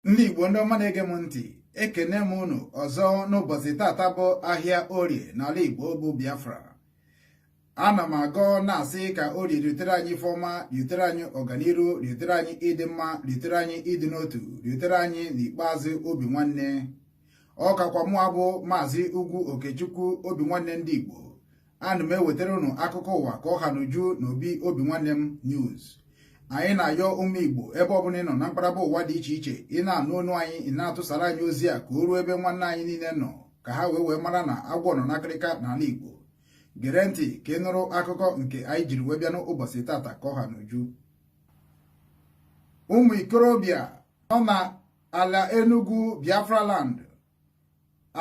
ndị Igbo ndị ọma na-ege m ntị ekene m unu ọzọ n'ụbọchị tata bụ ahịa orie n'ala Igbo bụ Biafra ana m agọ na-asị ka orie riotere anyị ife ọma riotere anyị ọganiru riotere anyị ịdị mma riotere anyị ịdị n'otu riotere anyị n'ikpeazụ obi nwanne ọ kakwa mụ abụ maazị Ugwu Okechukwu obi nwanne ndị Igbo ana m ewetara unu akụkọ ụwa ka ọ ha n'uju na obi obi nwanne m news anyị na-ayọ ụmụ Igbo ebe ọbụla ị nọ na mkparaba ụwa dị iche iche ị na-anụ onu anyị ị na-atụsara anyị ozi a ka o ruo ebe nwanne anyị niile nọ ka ha wee wee mara na agwọ nọ n'akịrịka n'ala Igbo gere ntị ka ị nụrụ akụkọ nke anyị jiri wee bịa n'ụbọchị tata ka ọ ha n'uju ụmụ ikorobịa nọ na ala Enugu Biafra land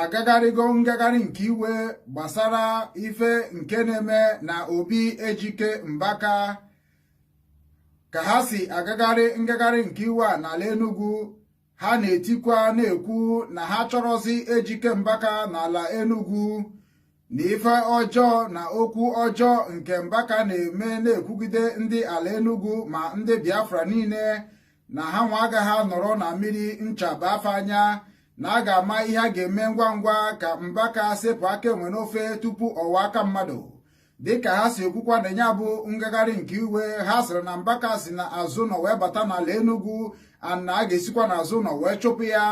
agagharịgo ngagharị nke iwe gbasara ife nke na-eme na obi Ejike Mbaka ka ha si agagharị ngagharị nke iwe a n'ala Enugu ha na-etikwa na-ekwu na ha achọrọzi Ejike Mbaka n'ala Enugu na ife ọjọọ na okwu ọjọọ nke Mbaka na-eme na-ekwugide ndị ala Enugu ma ndị Biafra niile na ha nwa agaghị anọrọ na mmiri ncha baa fa anya na a ga-ama ihe a ga-eme ngwa ngwa ka Mbaka sepụ aka enwe n'ofe tupu ọ ghọọ aka mmadụ dịka ha si ekwukwa na ya bụ ngagharị nke iwe ha sịrị na Mbaka si na azụ ụnọ wee bata n'ala Enugu na a ga-esikwa n'azụ ụnọ wee chụpụ ya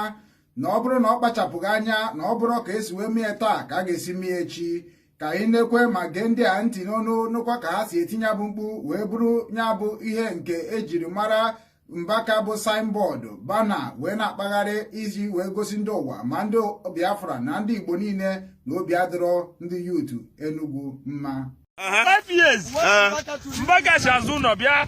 na ọ bụrụ na ọ kpachapụghị anya na ọ bụrọ ka esi wee mie taa ka a ga-esi mie echi ka anyị nekwe ma gee ndị a ntị n'ọnụ nụkwa ka ha si eti ya bụ mkpu wee buru ya bụ ihe nke ejiri mara Mbaka bụ signboard banner wee na-akpagharị iji wee gosi ndị ụwa ma ndị Biafra na ndị Igbo niile na obi adịrọ ndị youth Enugu mma Mbaka si azụ ụlọ bịa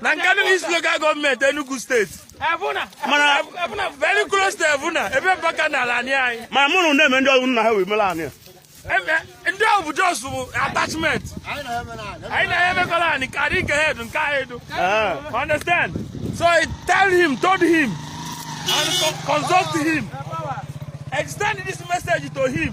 na Nkanu East local government Enugu state mana very close to Evuna ebe Mbaka na ala anyị anyị ma mụ na ụnụ na-eme ndị ọrụ nna ha wee mere anyị ndị ahụ bụ just bụ attachment anyị na ya emekọla anyị ka adị nke head nke anyị dụ understand so I tell him told him and consult him extend this message to him